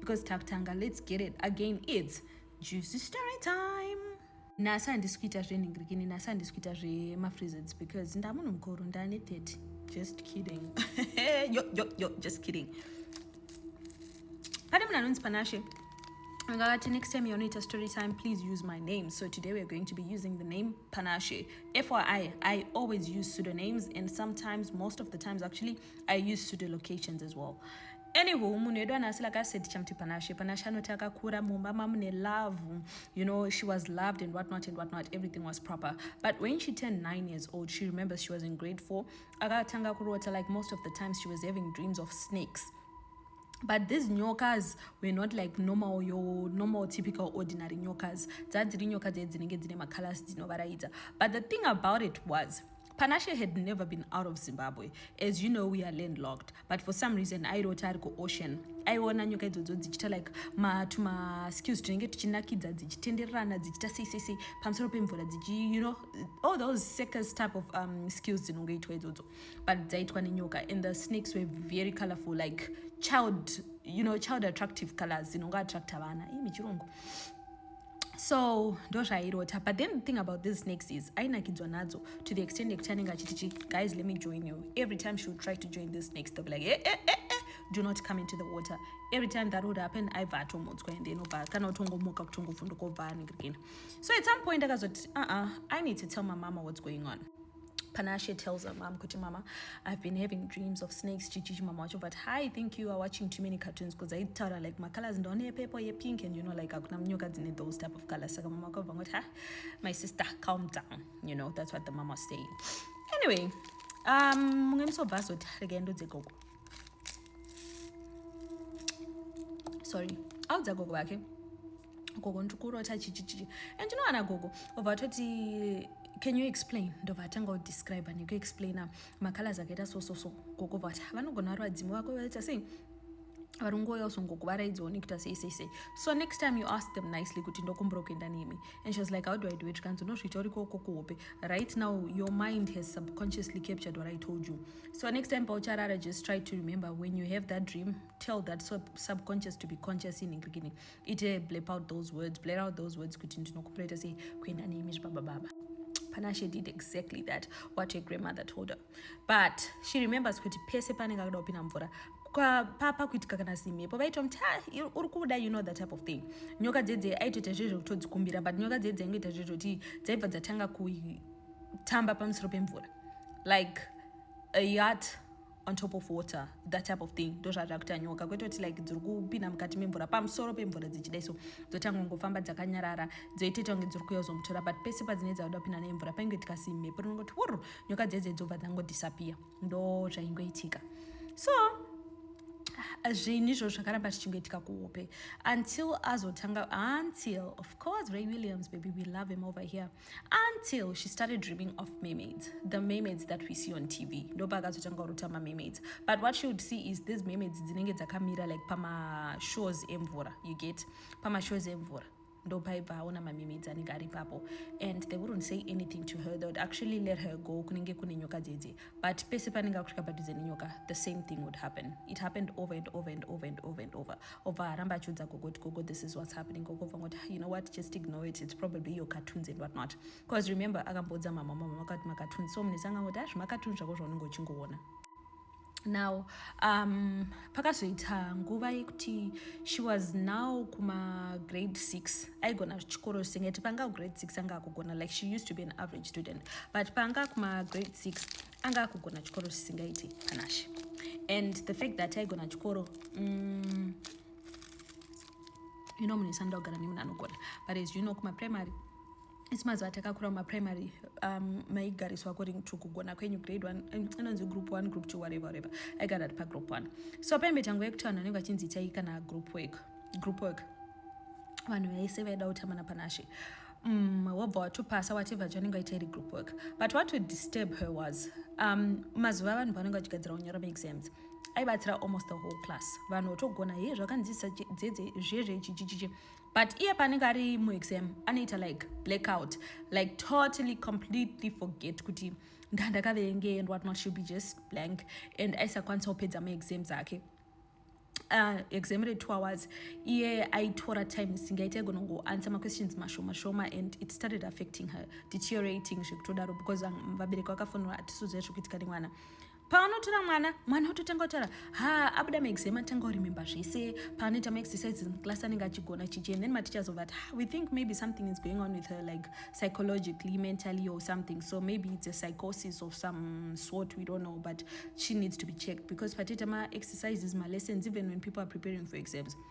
because takutanga let's get it again it's juicy story time nhasi handisi kuita zvenhingirikini nhasi handisi kuita zvemafreezeds because ndamunhu mukuru ndane 30 just kidding yo, yo, yo, just kidding pane munhu anonzi panashe Ngati, next time you're not a story time, please use my name. So today we're going to be using the name Panashe. FYI, I always use pseudonyms and sometimes, most of the times actually, I use pseudo locations as well. Anywho, munhu wedu anasi like I said tichamuti Panashe. Panashe anoti akakura mumba mamune love. You know, she was loved and whatnot and whatnot. Everything was proper. But when she turned nine years old, she remembers she was in grade four. Akatanga kurota like most of the times she was having dreams of snakes. but these nyokas were not like normal your normal typical ordinary nyokas dzadziri nyoka dzee dzinenge dzine macolors dzinovaraidza but the thing about it was Panashe had never been out of Zimbabwe. As you know, we are landlocked. But for some reason, I wrote ariko ocean. I wona nyoka idzodzo dzichita like ma to ma skills tinenge tichinakidza dzichitendererana dzichita sei sei sei pamusoro pemvura dzichi you know all those circus type of um, skills dzinongoitwa idzodzo but dzaitwa nenyoka and the snakes were very colorful like child you know child attractive colors dzinongo attracta vana ii michirungu so ndozvairota but then the thing about this snakes is ainakidzwa nadzo to the extent yekuti anenge achitichi guys let me join you every time she would try to join this snakes they'll be like eh, eh, eh, eh. do not come into the water every time that would happen aibva atomudzwa ende inobva kana kutongomuka kutongovhunduka obva anenge again so at some point akazoti uh-uh, i need to tell my mama what's going on Panashe tells her mom, Kuti mama, I've been having dreams of snakes, chichichi mama wacho, but I think you are watching too many cartoons because I tell her like my colors don't have purple, ye pink, and you know like akuna mnyoka dzine those type of colors. Saka mama kwabva ngoti, ha, my sister, calm down. You know, that's what the mama was saying. Anyway, um, munge musobva azoti regendo dzegogo. sorry audza gogo vake gogo ndiri kurota chichichichi and you know ana gogo obva atoti can you explain ndobva atanga kudescribe nekuexplaina macolors akaita so so so gogo vati vanogona vari vadzimu vako vaita sei vari ngoya usongokuvaraidzawo nekuita sei sei sei so next time you ask them nicely kuti ndokumbura kuenda nemi and she was like how do i do it zvikanzi unozviita uri koko kuhope right now your mind has subconsciously captured what i told you so next time paucharara just try to remember when you have that dream tell that sub subconscious to be conscious in beginning ite blap out those words blare out those words kuti ndinokupreta sei kuenda neimi zvibabababa panashe did exactly that what her grandmother told her but she remembers kuti pese panenge akuda kupinda mvura papa kuitika kana simhepo vaita muti ah, uri kuda you know that type of thing nyoka dzedze aitoita zve zvekutodzi kumbira but nyoka dzedze aingoita zve zvekuti dzaibva dzatanga kutamba pamusoro pemvura like a yacht on top of water that type of thing ndozvazva kuita nyoka kwete kuti like dziri kupinda mukati memvura pamusoro pemvura dzichidai so dzotanga kungofamba dzakanyarara dzoitoita kunge dziri kuya kuzomutora but pese padzinee dzakuda kupinda nemvura painge tikasi mhepo rinongoti wurru nyoka dzedze dzobva dzangodhisapiya ndo zvaingoitika so zvinhu izvo zvakaramba zvichingoitika kuhope until azotanga until of course ray williams baby we love him over here until she started dreaming of mermaids the mermaids that we see on tv ndopa akazotanga kurota mamermaids but what she would see is these mermaids dzinenge dzakamira like pamashores emvura you get pamashores emvura ndopaibva aona mamermaids anenge ari papo and they wouldn't say anything to her they would actually let her go kunenge kune nyoka dzedze but pese panenge akusvika padhuze nenyoka the same thing would happen it happened over and over and over and over and over obva aramba achiudza gogo kuti gogo this is what's happening gogo bva ngoti you know what just ignore it it's probably your cartoons and what not because remember akamboudza mama mama vakati macartoons so munhu isangangoti azvi ah, macartoons zvako zvaunenge uchingoona now um, pakazoita nguva yekuti she was now kumagrade six aigona chikoro singati panga kugrade six anga akugona like she used to be an average student but panga kumagrade six anga akugona chikoro chisingaiti panashe and the fact that aigona chikoro mm, you know munhu isanoda kugara nemunhu anogona but as you know kumaprimary isi mazuva atakakura mumaprimary um, maigariswa according to kugona kwenyu grade one um, inonzi um, group one group two whatever whatever aigara ari pagroup one so paimbe tangu yekuti vanhu vanenge vachinzi itai kana group work group work vanhu vaise vaida kutamana panashe um, wobva watopasa whatever chaunenge waita iri group work but what would disturb her was um, mazuva avanhu vanenge vachigadzira kunyora maexams aibatsira almost the whole class vanhu votogona hei zvakanzisa dzedze zvezvechichichichi but iye paanenge ari muexam anoita like blackout like totally completely forget kuti ndandakaverengei and whatnot should be just blank and aisakwanisa kupedza muexam dzake Uh, exam retwo hours iye aitora time isingaita aigona kungoansa maquestions mashoma shoma and it started affecting her deteriorating zvekutodaro because vabereki vakafonera hatisuziva zvekuitika nemwana paanotora mwana mwana ototanga kutaura ha abuda maexam atanga kurememba zvese paanoita maexercises muclass anenge achigona chichi and then maticha zova ti we think maybe something is going on with her like psychologically mentally or something so maybe it's a psychosis of some sort we don't know but she needs to be checked because patiita maexercises malessons even when people are preparing for exams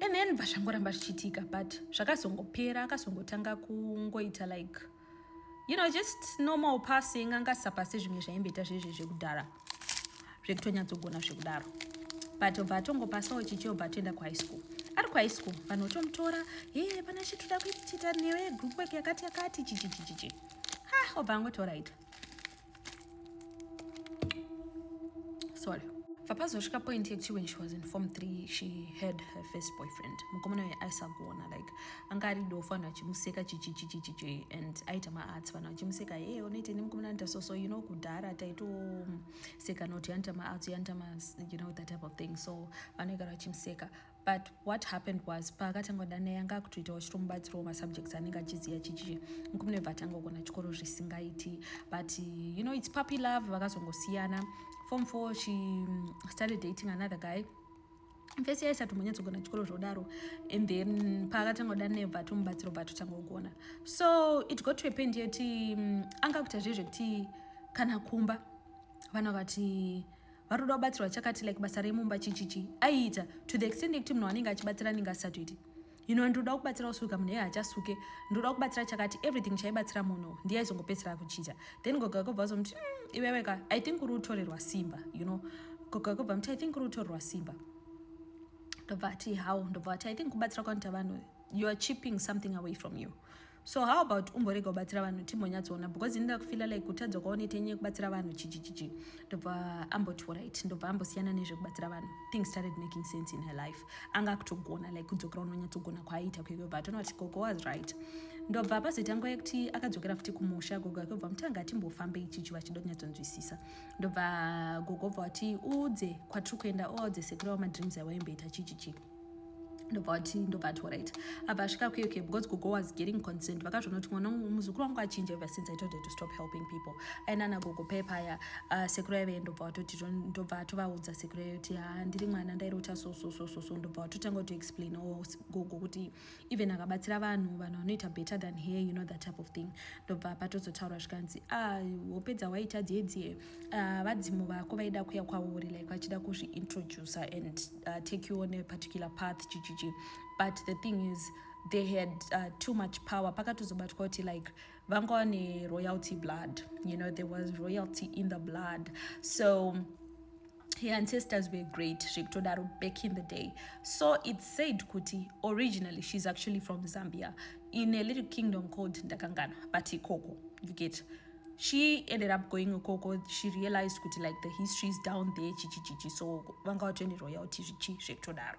and then bva zvangoramba zvichiitika but zvakazongopera akazongotanga kungoita like you know just normal passing anga asisapase zvimwe zvaimboita zvezve zvekudhara zvekutonyatsogona zvekudaro but obva atongopasawo chichi obva atoenda kuhigh school ari kuhigh school vanhu otomutora e pana chitoda kuitita newe group work yakati yakati chichichichichi ha obva angotoraita sorry vapazosvika point yekuti when she was in form three she had her first boyfriend mukomana uye aisagona like anga ari dofo vanhu vachimuseka chichichichichichi and aita maarts vanhu vachimuseka hey unoite ne mukomana anoita so so you know kudhara taitoseka not yanoita maarts yanoita ma you know that type of thing so vanoigara vachimuseka but what happened was paakatanga kuda naye anga akutoitawo chito mubatsiro wemasubjects anenge achiziva chichi nkumune bva atanga kugona chikoro zvisingaiti but you know its puppy love vakazongosiyana form four she mm, started dating another guy mfesi yaisati munyatsogona chikoro zvodaro and then paakatanga kuda neva tomubatsiro bva totanga kugona so it got to a point yeti mm, anga kuita zvezvekuti kana kumba vana vakati vanoda kubatsirwa chakati like basa remumba chichichi aiita to the extent yekuti munhu anenge achibatsira anenge asisatoiti ino ndinoda kubatsira kusuka munhu iye hachasuke ndinoda kubatsira chakati everything chaibatsira munhu ndiye aizongopedzisira kuchicha then goga kobva azomuti mm, iweweka i think uri kutorerwa simba you know goga kobva muti i think uri kutorerwa simba ndobva ati how ndobva ati i think kubatsira kwanoita vanhu you are chipping something away from you so how about umborega kubatsira vanhu timbonyatsoona because ini ndakufila like kutadza kwaonoita nyaya yekubatsira vanhu chichichichi ndobva amboti orit ndobva ambosiyana nezvekubatsira vanhu things started making sense in her life anga akutogona like kudzokera unonyatsogona kwaaiita kuiko but anoti gogo was right ndobva pazoita nguva yekuti akadzokera futi kumusha gogo yake obva mutanga timbofambe ichichi vachida kunyatsonzwisisa ndobva gogo obva wati uudze kwatiri kuenda oaudze sekuru awo madreams aiwaimboita chichichi ndobva vati ndobva ati orit abva asvika okay okay because gogo was getting concerned vakazvonoti mwana muzukuru wangu achinja ever since i told her to stop helping people aina ana gogo paye paya uh, sekuru yaive ndobva vatoti ndobva atovaudza sekuru yayo kuti ha ah, ndiri mwana ndairi ucha so so so so so ndobva vatotanga kutoexplain o oh, gogo kuti even akabatsira vanhu vanhu vanoita better than her you know that type of thing ndobva patozotaura zvikanzi ah, hope dzawaita dziedzi ah, vadzimu vako vaida kuya kwauri like vachida kuzviintroducer and uh, take you on a particular path chichichi but the thing is they had uh, too much power pakatozobatwa kuti like vanga vane royalty blood you know there was royalty in the blood so her ancestors were great zvekutodaro back in the day so it said kuti originally she's actually from zambia in a little kingdom called ndakangana but ikoko you get she ended up going ikoko she realized kuti like the history is down there chichichichi so vanga vatoende royalty zvichi zvekutodaro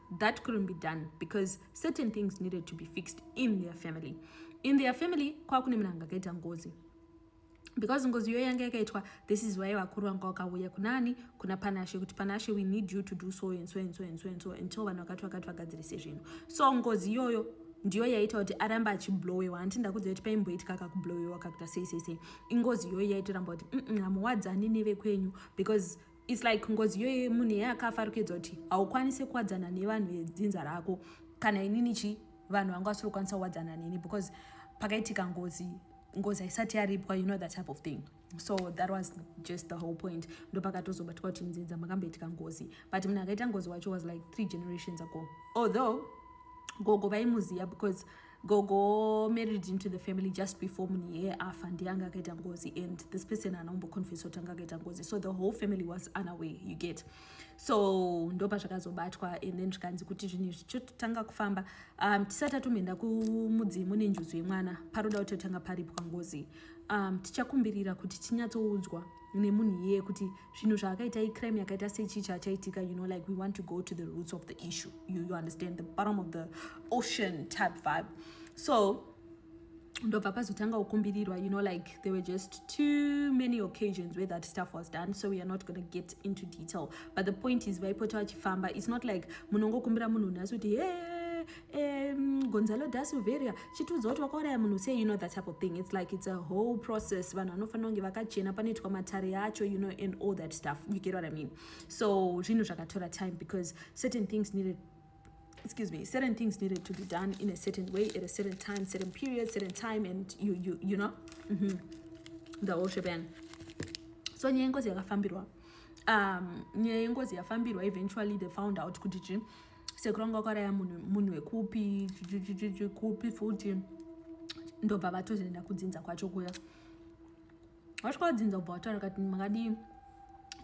that couldn't be done because certain things needed to be fixed in their family in their family kwakune munhu anga akaita ngozi because ngozi iyoyo yanga yakaitwa this is why vakuru vanga vakauya kunani kuna panashe kuti panashe we need you to do so and so and so and so and so until vanhu vakati vakati vagadzirise zvinhu so ngozi iyoyo ndiyo yaita kuti arambe achiblowewa hanti ndakudza kuti paimboitika kakublowewa kakuita sei sei sei ingozi iyoyo yaitoramba kuti hamuwadzani nevekwenyu because It's like ngozi yoye munhu yeye akafa ari kuedza kuti haukwanise kuwadzana nevanhu vedzinza rako kana inini chi vanhu vanga vasiri kukwanisa kuwadzana neni because pakaitika ngozi ngozi haisati yaripwa you know that type of thing so that was just the whole point ndopakatozobatwa kuti nzinza makamboitika ngozi but munhu akaita ngozi wacho was like three generations ago although gogo vaimuziva because gogo married into the family just before munhu yeye afa ndiye anga akaita ngozi and this person haana kumboconfesa kuti anga akaita ngozi so the whole family was unaware you get so ndopa zvakazobatwa and then zvikanzi kuti zvinhu izvi chototanga kufamba um, tisati atomboenda kumudzimu nenjuzu yemwana paroda kuti totanga paripwa ngozi um, tichakumbirira kuti tinyatsoudzwa nemunhu iyeye kuti zvinhu zvaakaita icrime yakaita sechii chachaitika you know like we want to go to the roots of the issue you, you understand the bottom of the ocean type vibe so ndobva pazotanga kukumbirirwa you know like there were just too many occasions where that stuff was done so we are not gonna get into detail but the point is vaipota vachifamba it's not like munongokumbira munhu nhasi kuti hey um, gonzalo da silveria chitiudza kuti wakauraya munhu sei you know that type of thing it's like it's a whole process vanhu vanofanira kunge vakachena panoitwa matare acho you know and all that stuff you get what i mean so zvinhu zvakatora time because certain things needed excuse me certain things needed to be done in a certain way at a certain time certain period certain time and you you you know mm -hmm. the whole shebang so nyaya yengozi yakafambirwa um nyaya yengozi yafambirwa eventually they found out kuti chii sekuru vanga vakaraya munhu wekupi kupi futi ndobva vatozoenda kudzinza kwacho kuya vasvika vadzinza kubva vataura kati makadii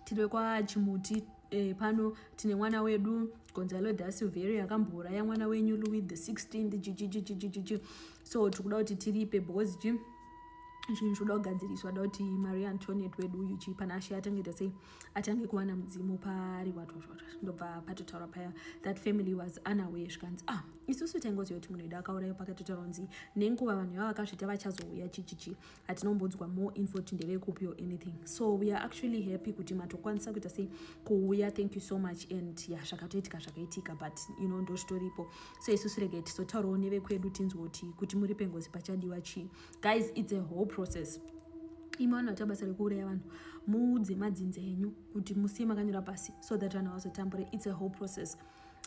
tiri kwachimuti e, pano tine mwana wedu gonzalo da silveria akambouraya mwana wenyu louis the 16 chichichichichichi so tiri kuda kuti tiripe because chi zvinhu zvoda kugadziriswa da kuti maria antoniet wedu uyu chii pana ashe atangeta sei atange kuwana mudzimu paari watwatwatwa ndobva patotaura paya that family was unaware zvikanzi ah isusu taingoziva kuti munhu edu akauraiwa pakatotaura kunzi nenguva vanhu ivava vakazvita vachazouya chichichi hatinombonzwa more info kuti ndevekupi or anything so we are actually happy kuti matokwanisa kuita sei kuuya thank you so much and ya yeah, zvakatoitika zvakaitika but you know ndozvitoripo so isusu rege tizotaurawo nevekwedu tinzwe kuti kuti muri pengozi pachadiwa chii guys it's a whole process imwe vanhu vaita basa rekuuraya vanhu muudze madzinza enyu kuti musiye makanyora pasi so that vanhu havazotambure its a whole process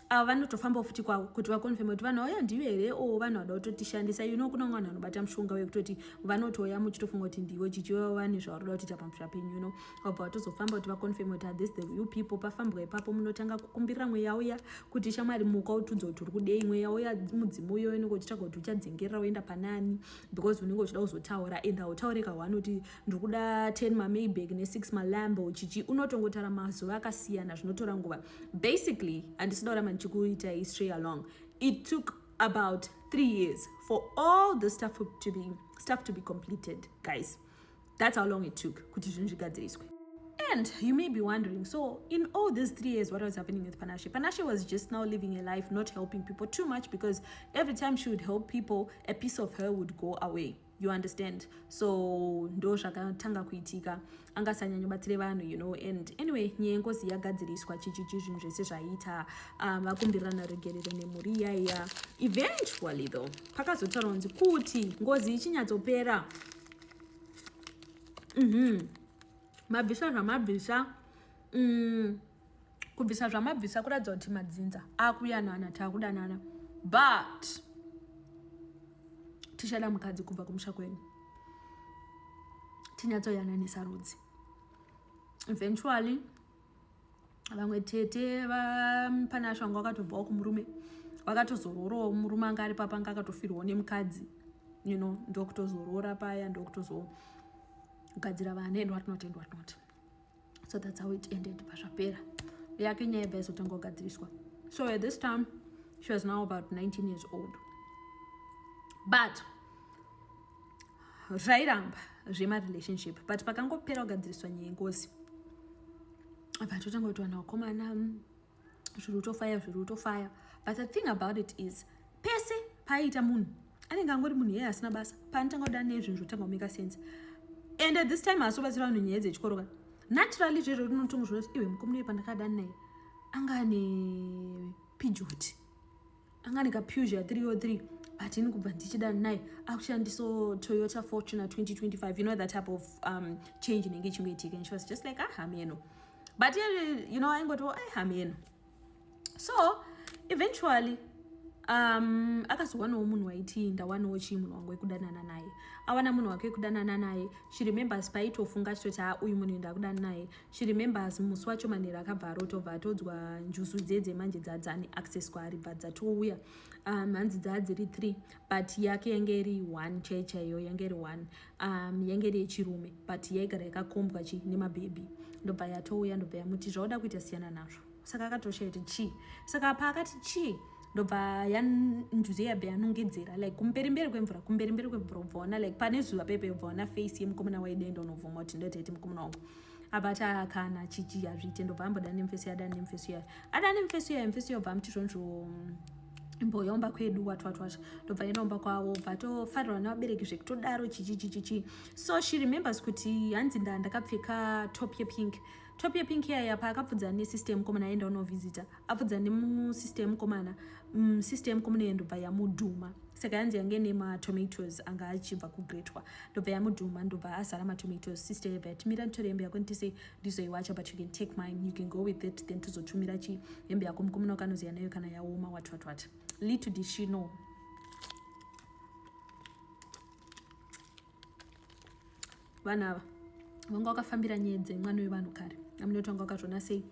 ava vanotofambawo futi kwavo kuti vakonfirme kuti vanhu vauya ndiyo here o vanhu vada kutotishandisa you know kunanga vanhu vanobata mushonga wekutoti vanotouya muchitofunga kuti ndivo chichiva vane zvavari kuda kutiita pamusha penyu you know vabva vatozofamba kuti vaconfirme kuti athis the u people pafambwa ipapo munotanga kukumbirira mweya uya kuti shamwari muka utiudza kuti uri kudei mweya uya mudzimu uyo unenge uchitsvaga kuti uchadzengerera uenda panani because unenge uchida kuzotaura and hautaure kahwani kuti ndiri kuda ten mamayback nesix malambo chichi unotongotara mazuva akasiyana zvinotora nguva basically handisida kuramba ndichikuitai stray along it took about three years for all the stuff to be, stuff to be completed guys That's how long it took kuti zvinhu zvigadziriswe. And you may be wondering, so in all these three years, what was happening with Panashe? Panashe was just now living a life not helping people too much because every time she would help people, a piece of her would go away. you understand so ndo zvakatanga kuitika angasanyanya batsire vanhu you know and anyway nyaya yengozi yagadziriswa chichichi zvinhu zvese zvaiita um, vakumbirana regerero nemhuri iyaiya eventually though pakazotaura kunzi kuti ngozi ichinyatsopera mhm. mabvisa zvamabvisa mm, kubvisa zvamabvisa kuratidza kuti madzinza akuyanana takudanana but tichada mukadzi kubva kumusha kwenyu tinyatsoyananisa rudzi eventually vamwe tete pane asho vanga vakatobvawo kumurume vakatozororawo murume anga ari papa anga akatofirwawo nemukadzi you know ndokutozoroora paya ndokutozogadzira vana and watnot and watnot so thats how it ended pazvapera yake nyaya ibva izotanga kugadziriswa so at this time she was now about 19 years old but zvairamba zvemarelationship but pakangopera kugadziriswa nyaya yengozi vatotanga kuti vanhu vakomana mm, zviri kutofaya zviri kutofaya but the thing about it is pese paiita munhu anenge angori munhu yeye asina basa paanotanga kuda nezvinhu zvotanga kumeka sense and at this time haasi kubatsira vanhu nyaya dzechikoro ka naturally zvezvo rinotonga zvinoti iwe mukomuna uye pandakadani naye anga ane pijoti anga ane kapusia 303 but ini kubva ndichida naye akushandiso toyota fortuna 2025 you know that type of um, change inenge ichingoitika and she was just like ah hameno but you know aingotiwo ai hameno so eventually um akazowanawo munhu waiti ndawanawo chii munhu wangu wekudanana naye awana munhu wake wekudanana naye she remembers paitofunga achitoti ha uyu munhu ndakudanana naye She remembers musi wacho manhero akabva arota obva atodzwa njuzu dziye dzemanje dzadzani access kwaari bva dzatouya um, hanzi dzaa dziri three but yake yange iri one chai chaiyo yange iri one um, yange iri yechirume but yaigara yakakombwa chi nemabhebhi ndobva yatouya ndobva yamuti zvauda kuita siyana nazvo saka akatosha iti chii saka paakati chii ndobva yanjuzi yabe yanongedzera like kumberi mberi kwemvura kumberi mberi kwemvura ubva ona like pane zuva pepe ubva ona face yemukomana waidaenda unobvuma kuti ndotaiti mukomana wangu apa taakana chichi hazviite ndobva amboda nemfeso yada nemfeso yayo ada nemfeso yayo mfeso yayo bva amuti zvonzvo mm, mboyaomba kwedu watwatwasha ndobva yenoomba kwavo bva tofarirwa nevabereki zvekutodaro chichichichichi so she remembers kuti hanzi nda ndakapfeka top yepink Top yepink iya yapa akapfudzana nesister yemukomana aenda unovhizita apfudzana nemusister yemukomana mm, sister yemukomana iyo ndobva yamudhuma saka yanzi yange nematomatoes anga achibva kugretwa ndobva yamudhuma ndobva azara matomatoes sister yebva yatimira nditore hembe yako nditise ndizoiwacha but you can take mine you can go with it then tozotumira chi hembe yako mukomana wakanoziya nayo kana yaoma what what what little did she know vanhu ava vanga wakafambira nyaya dzemwana wevanhu kare amunoti vanga wakazvona sei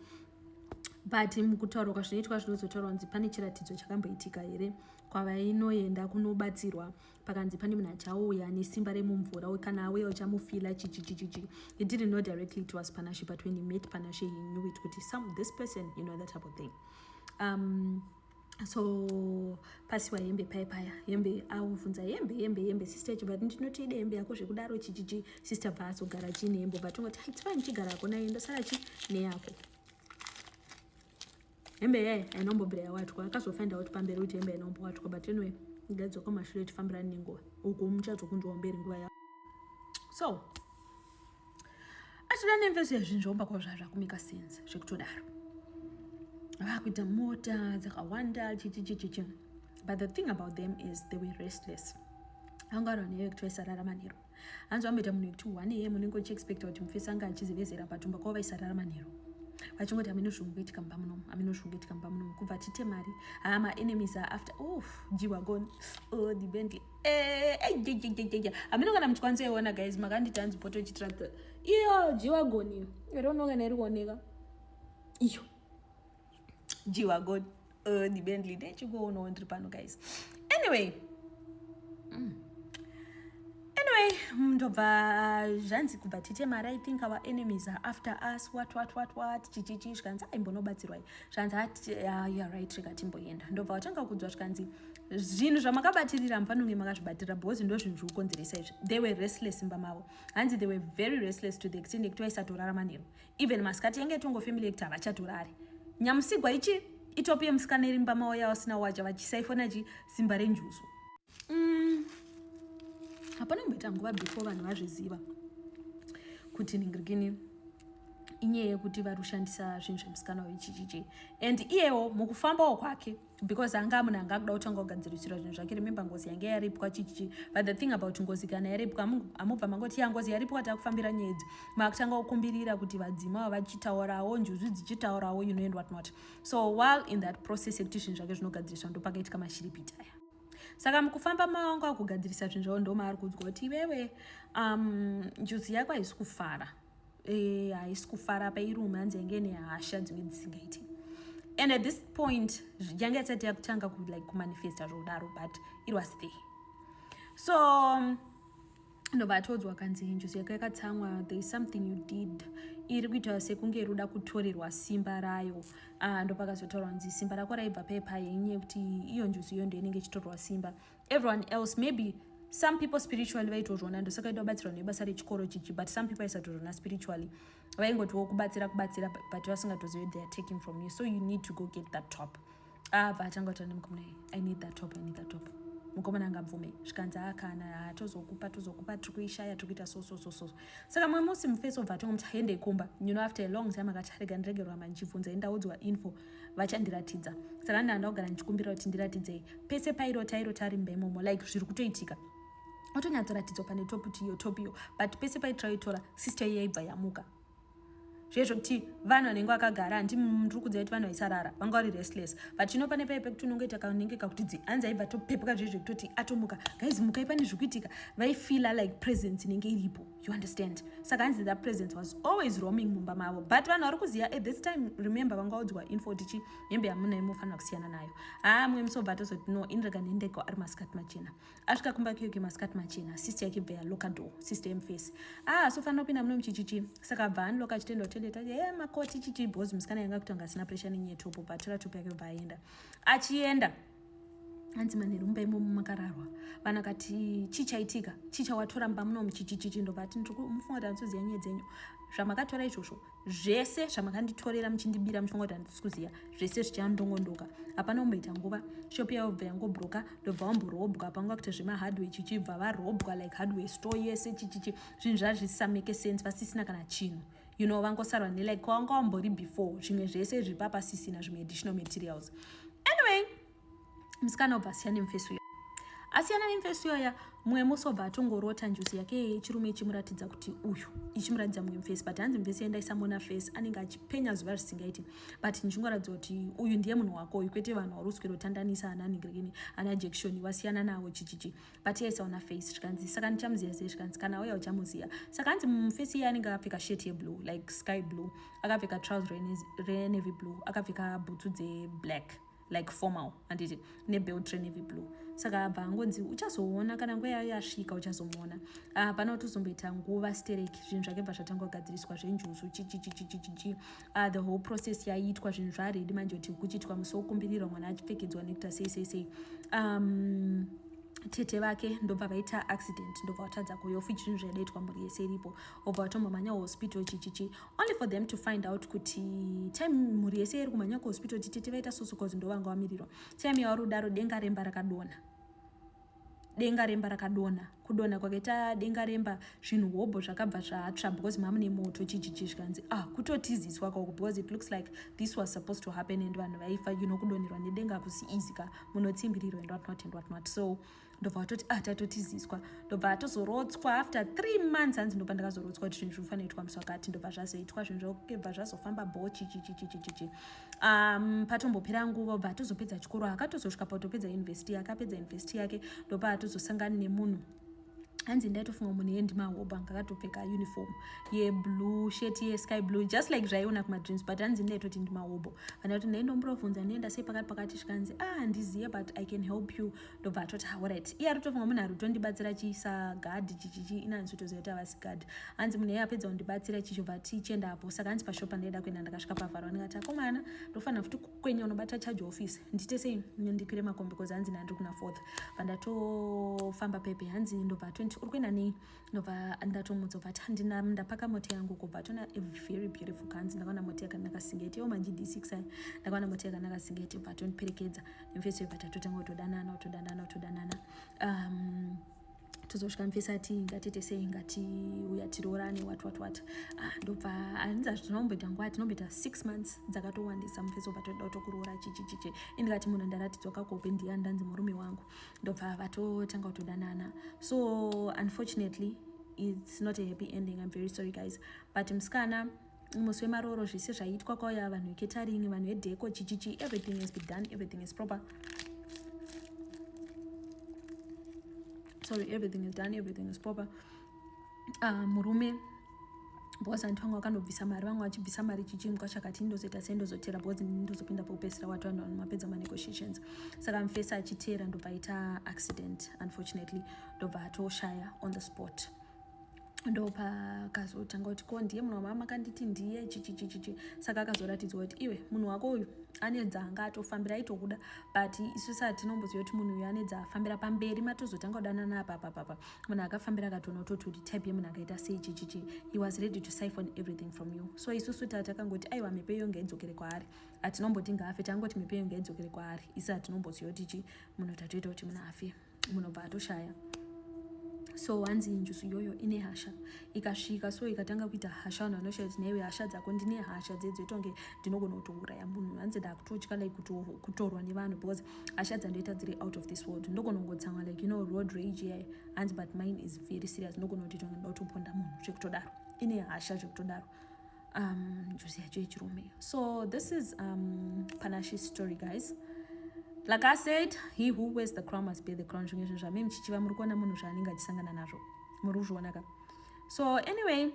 but mukutaurwa kwazvinoitwa zvinozotaurwa kunzi pane chiratidzo chakamboitika here kwavainoenda kunobatsirwa pakanzi pane munhu achauya nesimba remumvura we kana auya uchamufila chichichichichi he didn't know directly it was panashe but when he met panashe he knew it kuti some this person you know that type of thing um, so pasiwa hembe paye paya hembe auvhunza hembe hembe hembe sister yacho but ndinoti ide hembe yako zvekudaro chichichi sister bva azogara chii nehembe but ungoti it's fine chigara yako naye ndosara chi neyako hembe yaye ainombobvira yawatwa akazofind out pamberi kuti hembe ainombowatwa but anyway ngaidzoka mashure tifambirani nenguva uku muchadzokunzwa mberi nguva ya so achida nemveso yazvinhu zvaumba kwavo zvaa zvakumika sense zvekutodaro vakuita mota dzakawanda chichichichichi but the thing about them is they were restless anga ari vanhu yekuti vaisarara manhero hanzi vamboita munhu yekuti one am unenge uchiexpecta kuti mufesi anga achizivezera patumba kwavo vaisarara manhero vachingoti amino zvungu kuitika mumba munomu amino zvungu kuitika mumba munomu kubva titemari haa maenemies are after of jiwa gone oh the bentley Eh, eh, hameno kana muchikwanisa iona guys makanditi hanzi poto chitractor iyo jiwagoni iyo irono kana iri kuoneka iyo jiwagoni uh, eh, dibendly ndechikuonawo ndiri pano guys anyway mm. anyway ndobva zvanzi kubva titemara i think our enemies are after us what what what what chichichi zvikanzi aimbonobatsirwai zvanzi ah, youare right rikatimboenda ndobva watanga kudzwa zvikanzi zvinhu zvamakabatirira mufanonge makazvibatira because ndo zvinhu zvikukonzeresa izvi they were restless imba mavo hanzi they were very restless to the extent yekuti vaisatorara manheru even masikati yange itongo family yekuti havachatorari nyamusigwa ichi itopi yemusikana iri mumba mavo yavasina wacha vachisaifona chi simba renjuzu mm. hapana kumboita nguva before vanhu vazviziva kuti ningirikini inyaya yekuti vari kushandisa zvinhu zvemusikana wechichichi and iyewo mukufambawo kwake because anga munhu anga akuda kutanga kugadzirisirwa zvinhu zvake remember ngozi yange yaripwa chichichi but the thing about ngozi kana yaripwa amubva mangoti ya ngozi yaripwa takufambira nyaya idzi makutanga kukumbirira kuti vadzima vachitaurawo njuzu dzichitaurawo you know and what not so while in that process yekuti zvinhu zvake zvinogadziriswa ndopakaitika mashiripiti aya saka mukufamba mawangu akugadzirisa zvinhu zvavo ndomaari kuudzwa kuti iwewe um, njuzi yako haisi kufara eh, haisi e, kufara apa iri ume hanzi yange nehasha dzimwe dzisingaiti and at this point yange isati yakutanga like kumanifesta zvokudaro but it was there so um, ndobva atodzwa kanzi njuzi yako yakatsamwa there is something you did iri kuita sekunge iri kuda kutorerwa simba rayo uh, ah, ndopakazotaurwa nzi simba rako raibva pepa yenye kuti iyo njuzi iyo ndoinenge ichitorerwa simba everyone else maybe some people spiritually vaitozviona ndosaka ita kubatsirwa nebasa rechikoro chichi but some people aisatozviona spiritually vaingotiwo kubatsira kubatsira but vasingatozive they are taking from you so you need to go get that top abva ah, atanga kutaura nemukomana iyi i need that top i need that top mukomana angabvume zvikanzi akana ah, ah, tozokupa tozokupa tiri kuishaya tiri kuita so so so so saka mumwe musi mufesi obva atongomuti hende ikumba you know after a long time akati arega ndiregerwa manje chibvunza endaudzwa info vachandiratidza saka ndanda kugara ndichikumbira kuti ndiratidzei pese pairota airota ari mba imomo like zviri kutoitika otonyatsoratidzwa pane top kuti iyo top iyo but pese paitraitora sister iyo yaibva yamuka zvezvo kuti vanhu vanenge vakagara handi ndiri kudza kuti vanhu vaisarara vanga vari restless but chino pane paipe kuti unongoita kanenge kakuti dzi hanzi aibva topepuka zvezvo kutoti atomuka gaizimukai pane zvikuitika vaifeela like presence inenge iripo you understand saka hanzi that presence was always roaming mumba mavo but vanhu vari kuziva at this time remember vangaudzwa info tichi hembe yamunai munofanira kusiyana nayo haa mumwe musobva tozoti no inrega nendeko ari masikati machena asvika kumba kiyoke masikati machena sister yake bva yaloka door sister yemface haa ah, sofanira kupinda muno muchichichi saka bva anloka achitenda kutende tati e eh, makoti chichi bhozi musikana yanga kutanga asina pressure nenyetopo bva atora topo yake bva aenda achienda hanzi manheru mumba imomo makararwa vanhu akati chii chaitika chii chawatora mumba munomu chichichichi ndobva ati ndiri mufunga kuti handisi kuziva nyaya dzenyu zvamakatora izvozvo zvese zvamakanditorera muchindibira muchifunga kuti handisi kuziva zvese zvichandongondoka hapana kumboita nguva shopi yayobva yangobroka ndobva wamborobwa panga kuti zvemahardway chichibva varobwa like hardway store yese chichichi zvinhu zvazvisameke sense vasisina kana chinhu you know vangosarwa nelike kwavanga wambori before zvimwe zvese zviri papasisina zvimwe additional materials anyway musikana obva asiya nemufesi uyo asiyana nemufesi uyoya mumwe musi obva atongorota njuzi yake yechirume ichimuratidza kuti uyu ichimuratidza mumwe mufesi but hanzi mufesi yendaisamona fesi anenge achipenya zuva risingaiti but ndichingoratidza kuti uyu ndiye munhu wako uyu kwete vanhu wauri uswero tandanisa ana nigrini ana jekishoni wasiyana navo chichichi but iye aisaona face zvikanzi saka ndichamuziva sei zvikanzi kana auya uchamuziva saka hanzi mufesi iye anenge akapfeka shirt yeblue like sky blue akapfeka trouser renevy blue akapfeka bhutsu dzeblack like formal handiti nebelt renevy blue saka abva angonzi uchazoona kana nguva yayo yasvika uchazomuona ah, pana utozomboita nguva stereki zvinhu zvake bva zvatanga kugadziriswa zvenjuzu chichichichichichi uh, the whole process yaiitwa zvinhu zvaaredi manje kuti kuchiitwa musi wokumbirirwa mwana achipfekedzwa nekuita sei sei sei um, tete vake ndobva vaita accident ndobva vatadza kuuya ofuti zvinhu zvaidaitwa mhuri yese iripo obva vatombomhanya kuhospital chichichi only for them to find out kuti time mhuri yese iri kumhanya kuhospital kuti tete vaita soso cause ndovanga vamirirwa time yavari kudaro denga remba rakadona denga remba rakadonha kudonha kwake ta denga remba zvinhu hobho zvakabva zvatsva because mamune moto chijiji zvikanzi ah kutotiziswa kako because it looks like this was supposed to happen and vanhu vaifa you know kudonherwa nedenga kusi easy ka munotsimbirirwa and whatnot and whatnot so ndobva vatoti ah tatotiziswa ndobva atozorotswa after three months hanzi ndobva ndakazorotswa kuti zvinhu zvinofanira itwa musi wakati ndobva zvazoitwa zvinhu zvakebva zvazofamba bho chichichichichichi um, patombopera nguva obva atozopedza chikoro akatozosvika patopedza university akapedza university yake ndopaatozosangana nemunhu hanzi ndaitofunga munhu yendi mahoba ngakatopfeka uniform yeblue shet yesky blue just like zvaiona kumadreams but hanzi ndaitoti ndimahobo kana kuti ndaindomburovhunza ndoenda sei pakati pakati zvikanzi a ah, ndiziye but i can help you ndobva atoti horit iye aritofunga munhu ari kutondibatsira chiisa gadhi chichichi inanzi utoziva kuti havasi gadhi hanzi munhu iye apedza kundibatsira chichobva tichienda apo saka hanzi pashop pandaida kuenda ndakasvika pavharo ndikati akomana ndofanira futi kukwenya unobata charge office ndiite sei ndipire makombi kozi hanzi nandiri kuna fourth pandatofamba pepe hanzi ndobva atoti uri kuenda nei ndobva ndatomudza bva tandina ndapaka moti yangu kubva tona a very beautiful kanzi ndakaona moti yakanaka singeti yo manji d6 ayi ndakaona moti yakanaka singeti bva tondiperekedza nemfesi yobva tatotanga kutodanana kutodanana kutodanana um, tozosvika mfesi ati ngatite sei ngatiuya tiroorane wat wat wat ah, ndobva anzi azvi tinomboita nguva tinomboita six months dzakatowandisa mfesi obva toda kutokuroora chichichichi indikati munhu ndaratidzwa kakope ndiya ndanzi murume wangu ndobva vatotanga kutodanana so unfortunately it's not a happy ending i'm very sorry guys but musikana musi wemarooro zvese zvaiitwa kwauya vanhu veketaring vanhu vedheko chichichi everything has been done everything is proper sorry everything is done everything is proper uh, murume because vantu vanga vakanobvisa mari vanga vachibvisa mari chichimkwa chakati ndozoita sei ndozotera because ndozopinda pokupesera wati vanhu vanhu mapedza manegotiations saka mfesa achiteera ndopaita accident unfortunately ndobva atoshaya on the spot ndopakazotanga kuti ko ndiye munhu wamama akanditi ndiye chichichichichi saka akazoratidzwa kuti iwe munhu wako uyu ane dzaanga atofambira aitokuda but isu saa tinomboziva kuti munhu uyu ane dzaafambira pamberi matozotanga kudanana apapapapa munhu akafambira akatonototi kuti type yemunhu akaita sei chichichi he was ready to siphon everything from you so isusu taa takangoti aiwa mhepo iyo ngaidzokere kwaari hatinomboti ngaafe tangoti mhepo iyo ngaidzokere kwaari isi hatinomboziva kuti chi munhu tatoita kuti munhu afe munobva atoshaya so hanzi njusu iyoyo ine hasha ikasvika so ikatanga kuita hasha vanhu vanoshaya kuti naiwe hasha dzako ndine hasha dzedzoitonge ndinogona kutouraya munhu hanzi ndakutotya like kutorwa nevanhu because hasha dzandoita dziri out of this world ndokonongotsamwa like you know road rage yaye hanzi but mine is very serious ndokona kuti tonge ndoda kutoponda munhu zvekutodaro ine hasha zvekutodaro um njuzi yacho yechirume so this is um panashi story guys like i said he who wears the crown must bear the crown zvimwe zvinhu zvamai muchichiva muri kuona munhu zvaanenge achisangana nazvo muri kuzvionaka so anyway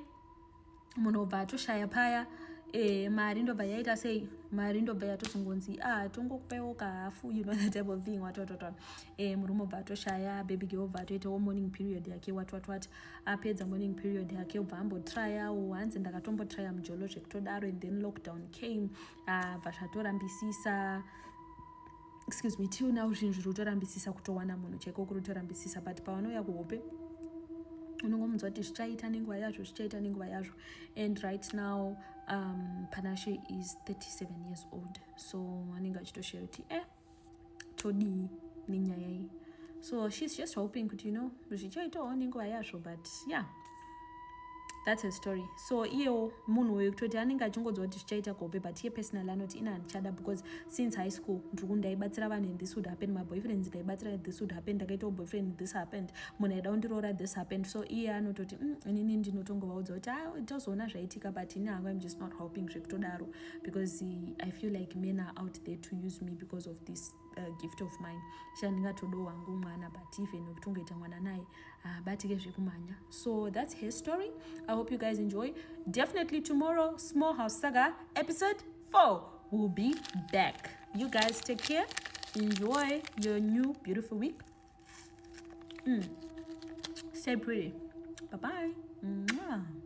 munhu obva atoshaya paya e, mari ndobva yaita sei mari ndobva yatozongonzi a ah, tongokupaiwo kahafu you know the type of thing watwatwatwa e, eh, murume obva atoshaya baby ge obva atoitawo morning period yake watwatwat apedza morning period yake obva ambotryawo hanzi ndakatombotrya mujolo zvekutodaro and then lockdown came abva ah, zvatorambisisa excuse me till now zvinhu zviri kutorambisisa kutowana munhu chaiko kuri kutorambisisa but pawanouya kuhope unongomunzwa kuti zvichaita nenguva yazvo zvichaita nenguva yazvo and right now um, panashe is 37 years old so anenge achitoshera kuti e eh, todii nenyaya iyi so shes just hoping kuti you know zvichaitawo nenguva yazvo but yeah thats a story so iyewo munhu uyo kutoti anenge achingonzwa kuti zvichaita kuhope but iye personal anoti ina handichada because since high school ndiri ku ndaibatsira vanhu and this would happen my boyfriends ndaibatsira this would happen ndakaitawo boyfriend this happened munhu aida kundiroora this happened so iye anototi mm, inini ndinotongovaudza kuti a ah, tozoona zvaitika but ini hangu im just not hoping zvekutodaro because i feel like men are out there to use me because of this uh, gift of mine sha ndingatodo wangu mwana but even ukitongoita mwana naye haabatike ah, uh, zvekumhanya so that's her story i hope you guys enjoy definitely tomorrow small house saga episode 4 will be back you guys take care enjoy your new beautiful week mm. stay pretty bye bye Mwah.